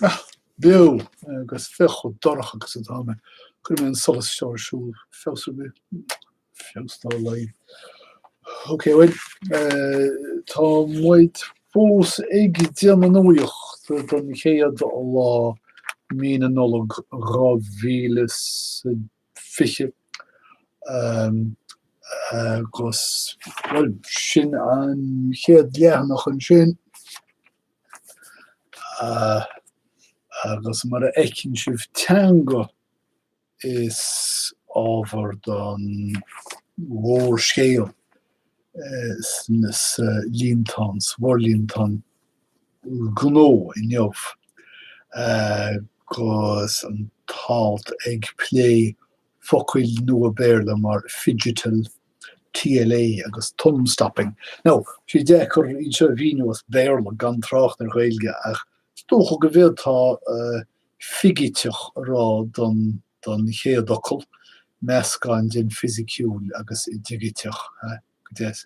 Ah, beo agus féach chomh dorcha agus atá mé. Cuirfidh mé an solas seo ar siúl. Feabhas ar bith? Feabhas dá laghad. Ok, bhuel, eh, tá muid fós ag déanamh nuaíocht don chéad lá mí na Nollag 2000 is. 20. Agus, bhuel, sin an chéad leathanach ansin. Agus mar a fheiceann sibh, teanga is ábhar don mhórscéal sa líontán, sa bhforlíontán. gnó inniu agus an t-alt ag plé focail nua Béarla mar 'phygital', TLA, agus 'thumbstopping'. Now, sé deacair iad seo a mhíniú as Béarla, gan trácht ar Ghaeilge, ach is dócha go bhféadfá 'figiteach' a rá don chéad fhocal, meascán den fisiciúil agus digiteach, go deimhin.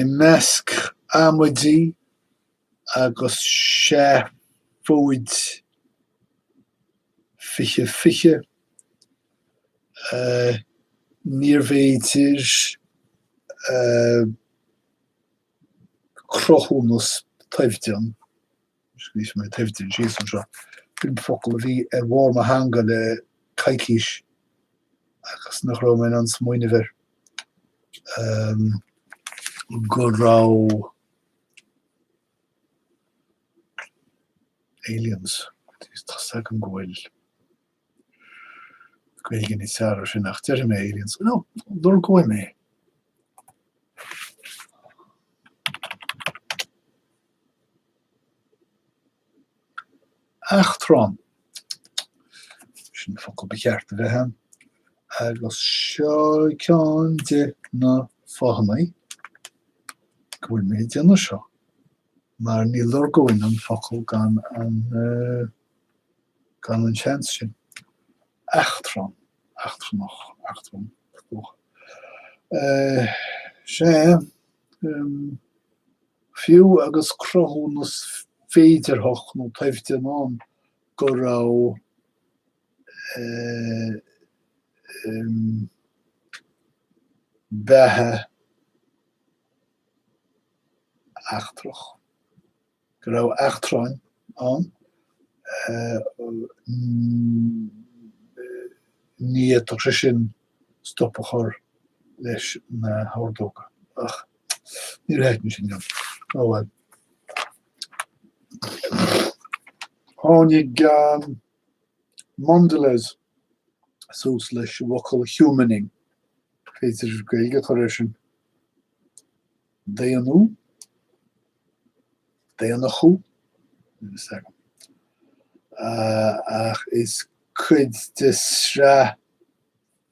I measc amaidí agus seafóid 2020, níorbh fhéidir cruthúnas toimhdean. Scríobh mé toimhdean síos anseo. B'in focal a bhí ar bharr mo theanga le coicís agus nach raibh mé in ann smaoineamh air go raibh aliens, tá 's agam go bhfuil. Gaeilge níos fearr ar sin ach deirfidh mé aliens nó, lorgóidh mé. Eachtrán. Sin an focal ba cheart a bheith ann. Agus seo ceann de na fáthannaí go bhfuil mé ag déanamh seo, mar ní lorgóinn an focal gan an. gan an seans sin. Eachtrann, eachtrannach, eachtrann, is dócha. Sea, fiú agus cruthúnas féidearthach nó toimhdean ann go raibh beatha eachtrach, go raibh eachtráin ann ní fhéadfadh sé sin stop a chur leis na hordóga. Ach ní theithim é sin. Ó bhuel. Tháinig Mondelez suas leis an bhfocal 'humaning'. B'fhéidir Gaeilge a chur air sin. daonnú, daonnachú, níl fhios agam, ach is cuid de sraith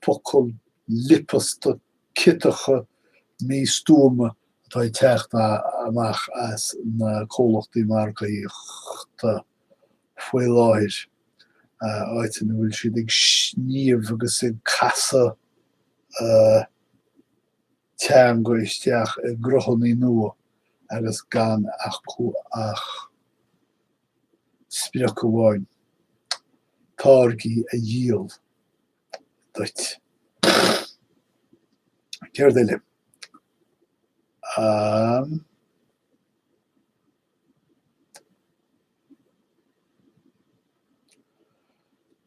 focal liopasta ciotacha místuama atá ag teacht amach as na comhlachtaí margaíochta faoi láthair, áit ina bhfuil siad ag sníomh agus ag casadh. teanga isteach i gcruthanna nua agus gan acu ach sprioc amháin, táirgí a dhíol duit. Céard eile? An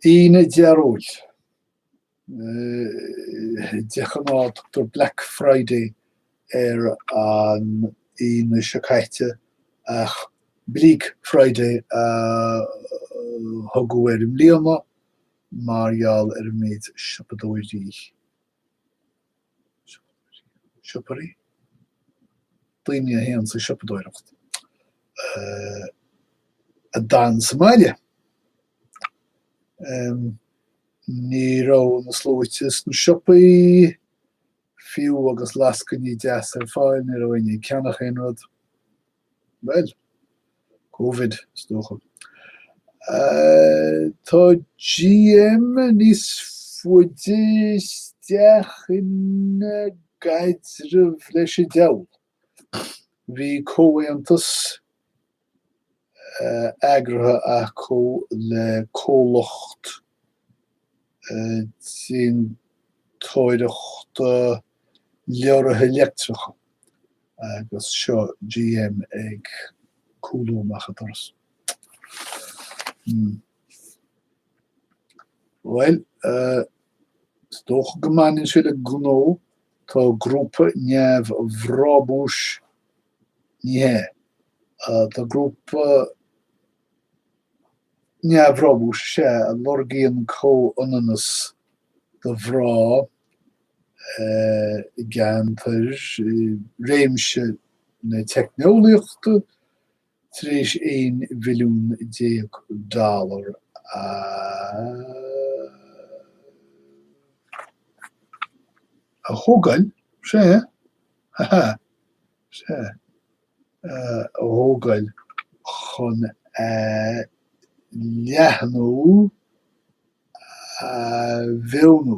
Aoine Dhearóil. de ghnáth tugtar Black Friday ar an Aoine seo caite ach Bleak Friday a tugadh air i mbliana mar gheall ar an méid siopadóirí, siopadóirí? daoine a théann ag siopadóireacht a d'fhan sa mbaile. Ní raibh na sluaite sna siopaí, fiú agus lascainí deasa ar fáil, ní raibh éinne ag ceannach aon rud. Bhuel. Covid, is dócha. Tá GM níos faide isteach ina gcaidreamh leis an diabhal. Bhí comhaontas eagraithe acu le comhlacht déantóireachta leoraithe leictreacha agus seo GM ag cúlú amach an doras. Bhuel, is dócha go mbaineann sé le gnó Tá grúpa neamhbhrabúis Ní hea, tá grúpa neamhbhrabúis is ea a lorgaíonn comhionannas do mhná i gceantair, i réimse na teicneolaíochta, Tar éis 11 mhilliún dollar a thógáil, sea, ha ha, sea, a thógáil chun a leathnú a mhaoiniú,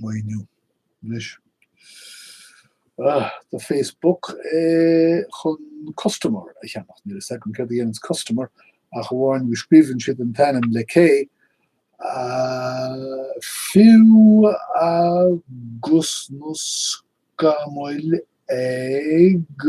mhaoiniú anois do Facebook chun Kustomer a cheannach. Níl a fhios agam céard a dhéananns Kustomer ach amháin go scríobhann siad an t-ainm le K, fiú agus na scamaill ag.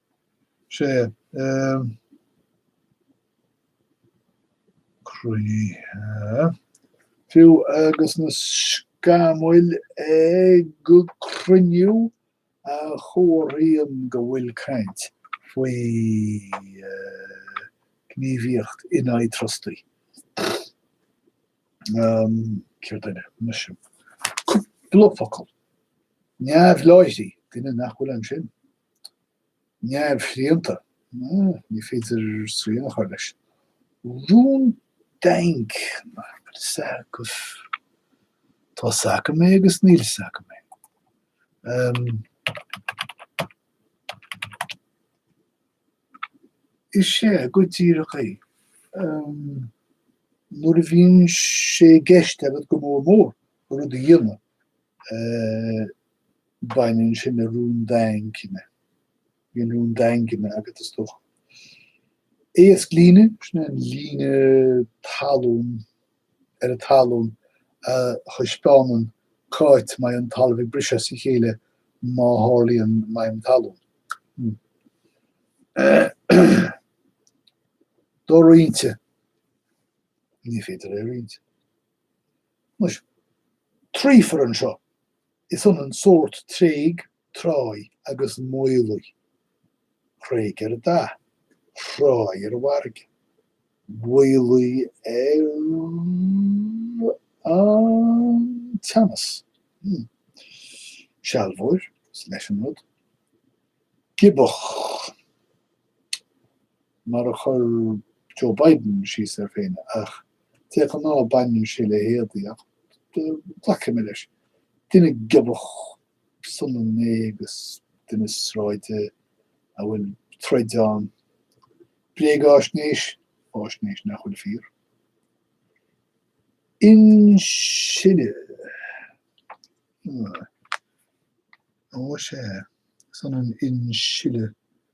sé. croíthe. Fiú agus na scamaill ag cruinniú, a chomharthaíonn go bhfuil caint faoi ghníomhaíocht in aghaidh trustaí. Cé an duine? anois cúpla focal neamhláithrí, duine nach bhfuil ansin. neamhshrianta, ní féidir srian a chur leis, rún daingne, tá sioctha, tá sioctha mé agus níl sioctha mé, is ea, go díreach é, nuair a bhíonn sé i gceist agat go mór mór rud a dhéanamh, baineann sin le rún daingne. Bíonn rún daingne agat is dócha. Éasclíne, sin é an líne talún ar an talún a thaispeánann c'áit mbeidh an talamh ag briseadh as a chéile má tharlaíonn maidhm talún. Doroinnte, ní féidir é a roinnt. Anois, triúr anseo, is ionann sórt tréig, tráigh agus maolaigh. Thréig ar an dath, thráigh ar an bhfarraige, mhaolaigh ar an teannas. Sealbhóir, is leis an rud. Giobach. mar a chuir Joe Biden síos air féin, ach de ghnáth baineann sé le héadaí, ach glacfaidh mé leis. Duine giobach is ionann é agus duine sráide a bhfuil troid ann. Bréagaisnéis, faisnéis nach bhfuil fíor. Insileadh. Ó, sé. Is ionann insileadh.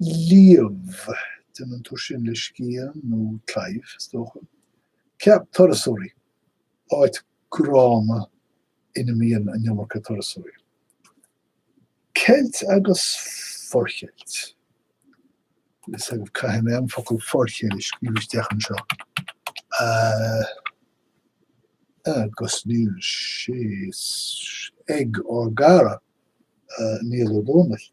líomh. Déanann tú sin le scian nó claíomh, is dócha, ceap turasóirí, áit gránna ina mbíonn an iomarca turasóirí. Ceilt agus forcheilt. Is agaibh caithfidh mé an focal forcheilt a scríobh isteach anseo. Agus níl sé ag ár gcara Niall Ó Dónaill.